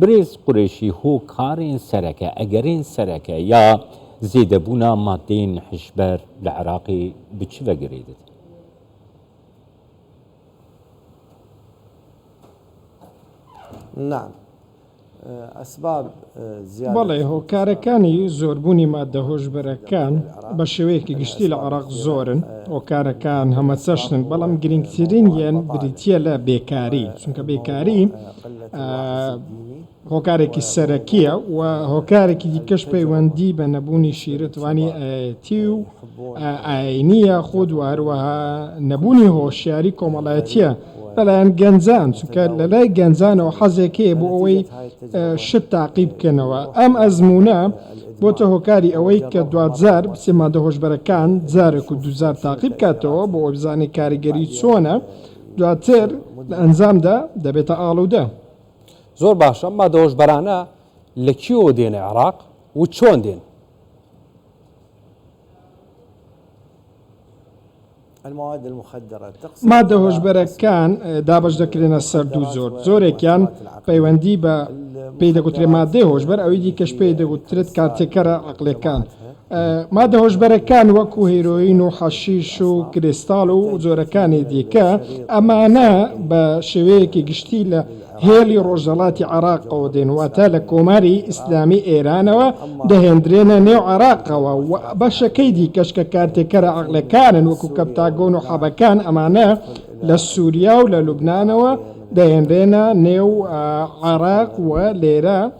برێز قورێشی هۆ کارێن سەرەکە ئەگەرێن سەرەکە یا زێدەبوونا ماددەێن هشبەر لە عراقێ ب چ ڤەگەرێدت؟ نعم اسباب زیادە بەڵێ هۆکارەکانی زۆربوونی ماددە هۆشبەرەکان بە شێوەیەکی گشتی لە عێراق زۆرن هۆکارەکان هەمە چەشنن بەڵام گرنگترینیان بریتیە لە بێکاری چونکە بێکاری هۆکارێکی سەرەکییە و هۆکارێکی دیکەش پەیوەندی بە نەبوونی شیرتوانی ئایەتی و ئایینی یاخود و هەروەها نەبوونی هۆشیاری کۆمەڵایەتییە لەلایەن گەنجان، چونکە لەلای گەنجانەوە حەزێک هەیە بۆ ئەوەی شت تاقی بکەنەوە، ئەم ئەزموونە بۆتە هۆکاری ئەوەی کە دواجار بچێ ماددە هۆشبەرەکان جارێک و دووجار تاقی بکاتەوە بۆ ئەوەی بزانێ کاریگەری چۆنە دواتر لە ئەنجامدا دەبێتە ئاڵودە. زۆر باشە ئەم مادەهۆشبەرانە لە کوێوە دێنە عێراق و چۆن دێن؟ مادە هۆشبەرەکان دابش دەکرێنە سەر دوو زۆر زۆرێکیان پەیوەندی بە پێی دەگوترێ مادەی هۆشبەر ئەوی دیکەش پێی دەگوترێت کارتێکەرە عقلەکان مادە هۆشبەرەکان وەکو هیرۆین و حەشیش و کریستاڵ و جۆرەکانی دیکە، ئەمانە بە شێوەیەکی گشتی لە هێڵی ڕۆژهەڵاتی عێراقەوە دێن، واتە لە کۆماری ئیسلامی ئێرانەوە دەهێندرێنە نێو عێراقەوە و بەشەکەی دیکەش کە کارتێکەرە عەقڵیەکانن وەکو کەپتاگۆن و حەبەکان ئەمانە لە سوریا و لە لوبنانەوە دەهێنرێنە نێو عێراق و لێرە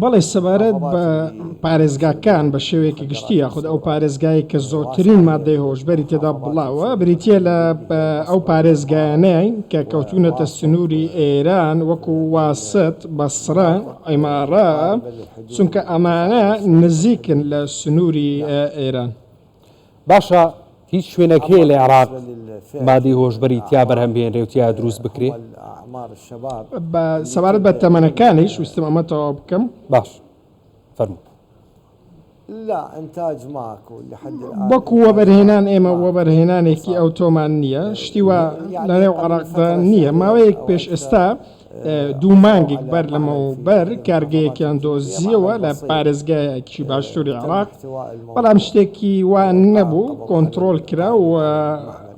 بەڵێ سەبارەت بە پارێزگاکان بە شێوەیەکی گشتی یاخود ئەو پارێزگایەی کە زۆرترین ماددەی هۆشبەری تێدا بڵاوە بریتییە لە ئەو پارێزگایانەی کە کەوتوونەتە سنووری ئێران وەکو واسەت بەسڕە عیماڕە چونکە ئەمانە نزیکن لە سنووری ئێران. باشە هیچ شوێنەک هەیە لە عێراق مادەی هۆشبەری تیا بەرهەم بهێنرێ و تیا دروست بکرێ؟ بە سەبارەت بە تەمەنەکانیش ویستم ئەمە تەواو بکەم. باش فەرموو. وەکو وەبەرهێنان ئێمە وەبەرهێنانێکی ئەوتۆمان نییە، شتی وا لەنێو عێراقدا نییە، ماوەیەک پێش ئێستا دوو مانگێک بەر لەمەوبەر کارگەیەکیان دۆزیەوە لە پارێزگایەکی باشووری عێراق، بەڵام شتێکی وا نەبوو کۆنتڕۆڵ کرا و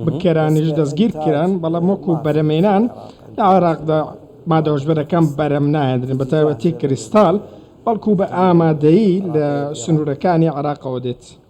بکەرانیش دەستگیر کران، بەڵام وەکو بەرەمێنان لە عێراقدا مادە هۆشبەرەکان بەرەم ناهێندرێن بە تایبەتی کریستاڵ، بەڵکو بە ئامادەیی لە سنوورەکانی عێراقەوە دێت.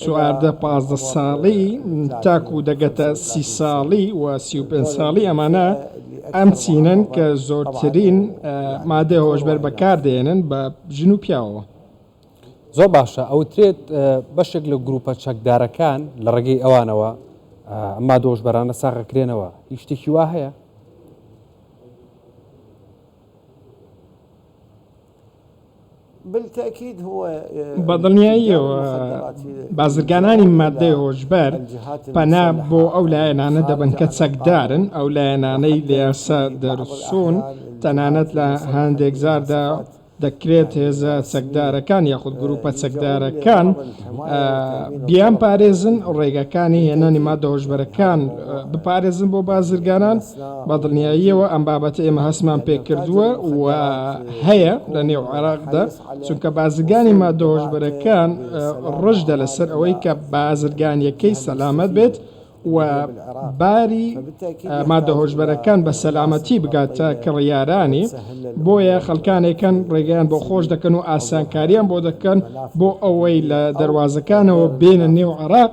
چواردە پازدە ساڵی تاکو دەگەتە سی ساڵی و سی و پێنج ساڵی ئەمانە ئەم چینەن کە زۆرترین مادەی هۆشبەر بەکار دێنن بە ژن و پیاوەوە. زۆر باشە ئەوترێت بەشێک لە گروپە چەکدارەکان لە ڕێگەی ئەوانەوە ئەما دۆشبەرانە ساغەکرێنەوە هیچ شتێکی وا هەیە؟ بە دڵنیاییەوە بازرگانانی ماددەی هۆشبەر پەنا بۆ ئەو لایەنانە دەبەن کە چەکدارن، ئەو لایەنانەی لە یاسا دەرچوون، تەنانەت لە هەندێک جاردا دەکرێت هێزە چەکدارەکان یاخود گرووپە چەکدارەکان بیانپارێزن، ڕێگاکانی هێنانی ماددە هۆشبەرەکان بپارێزن بۆ بازرگانان. بە دڵنیاییەوە ئەم بابەتە ئێمە هەستمان پێ کردووە و هەیە لە نێو عێراقدا، چونکە بازرگانی ماددە هۆشبەرەکان ڕژدە لەسەر ئەوەی کە بازرگانییەکەی سەلامەت بێت و باری ماددە هۆشبەرەکان بە سەلامەتی بگاتە کڕیارانی، بۆیە خەڵکانێک هەن ڕێگەیان بۆ خۆش دەکەن و ئاسانکارییان بۆ دەکەن بۆ ئەوەی لە دەروازەکانەوە بێنە نێو عێراق.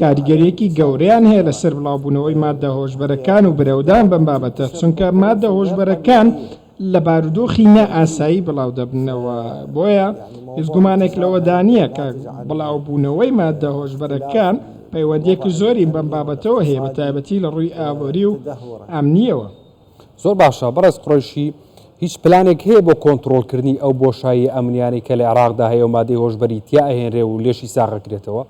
کاریگەریەکی گەورەیان هەیە لەسەر بڵاوبوونەوەی ماددە هۆشبەرەکان و برەودان بەم بابەتە چونکە ماددە هۆشبەرەکان لە بارودۆخی نا ئاسایی بڵاو دەبنەوە بۆیە هیچ گومانێک لەوەدا نییە کە بڵاوبوونەوەی ماددە هۆشبەرەکان پەیوەندیەکی زۆری بەم بابەتەوە هەیە بە تایبەتی لە ڕووی ئابووری و ئەمنیەوە زۆر باشە بەڕێز قڕیشی هیچ پلانێک هەیە بۆ کۆنتترۆلکردنی ئەو بۆشایی ئەمنیانی کە لە عێراقدا هەیە و مادەی هۆشببەری تیا ئەهێنرێ و لێشی ساغەکرێتەوە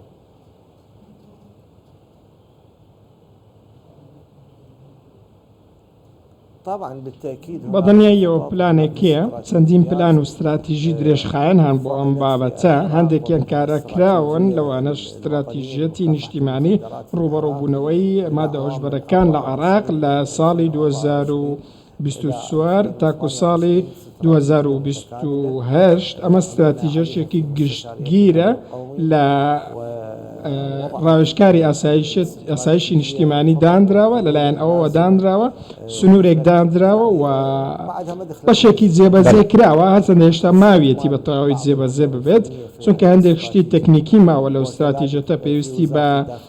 بە دڵنیاییەوە پلانێک هەیە، چەندین پلان و ستراتیژی درێژخایەن هەن بۆ ئەم بابەتە، هەندێکیان کارا کراون، لەوانەش ستراتیژیەتی نیشتیمانی ڕووبەڕووبوونەوەی مادە هۆشبەرەکان لە عێراق لە ساڵی دوو هەزار و بیست و چوار تاکو ساڵی دوو هەزار و بیست و هەشت، ئەمە ستراتیژەشێکی گشتگیرە لە ڕاوێژکاری ئاسایشی نیشتیمانی دانراوە لەلایەن ئەوەوە دانراوە سنوورێک دانراوە و بەشێکی جێبەجێ کراوە هەرچەندە هێشتا ماویەتی بە تەواوی جێبەجێ ببێت چونکە هەندێک شتی تەکنیکی ماوە لەو ستراتیژەتە پێویستی بە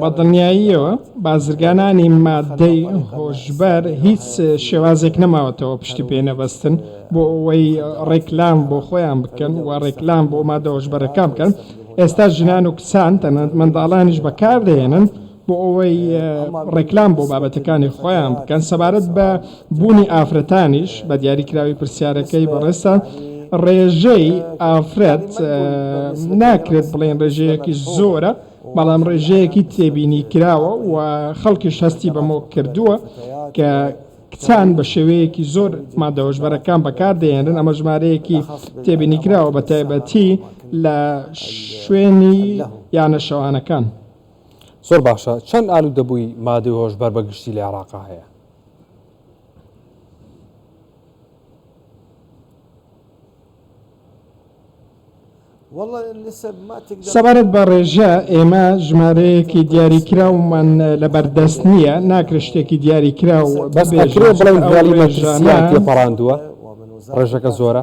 بە دڵنیاییەوە بازرگانانی ماددەی هۆشبەر هیچ شێوازێک نەماوەتەوە پشتی پێ نەبەستن بۆ ئەوەی ڕێکلام بۆ خۆیان بکەن و ڕێکلام بۆ مادە هۆشبەرەکان بکەن ئێستا ژنان و کچان تەنانەت منداڵانیش بەکاردەهێنن بۆ ئەوەی ڕێکلام بۆ بابەتەکانی خۆیان بکەن سەبارەت بە بوونی ئافرەتانیش بە دیاریکراوی پرسیارەکەی بەڕێزتان ڕێژەی ئافرەت ناکرێت بڵێن ڕێژەیەکی زۆرە بەڵام ڕێژەیەکی تێبینی کراوە و خەڵکیش هەستی بەمۆ کردووە کە کچان بە شێوەیەکی زۆر مادەوەژبەرەکان بەکاردەێنن ئەمە ژمارەیەکی تێبینی کراوە بە تایبەتی لە شوێنی یانە شەوانەکان. زۆر باشە چەند ئالودەبووی مادەی هۆشبەر بە گشتی لە عێراقا هەیە؟ سەبارەت بە ڕێژە ئێمە ژمارەیەکی دیاریکراومان لەبەردەست نییە ناکرێت شتێکی دیاریکراو بەس ئەکرێ بڵێین بۆڵی مەترسییان تێپەڕاندووە ڕێژەکە زۆرە؟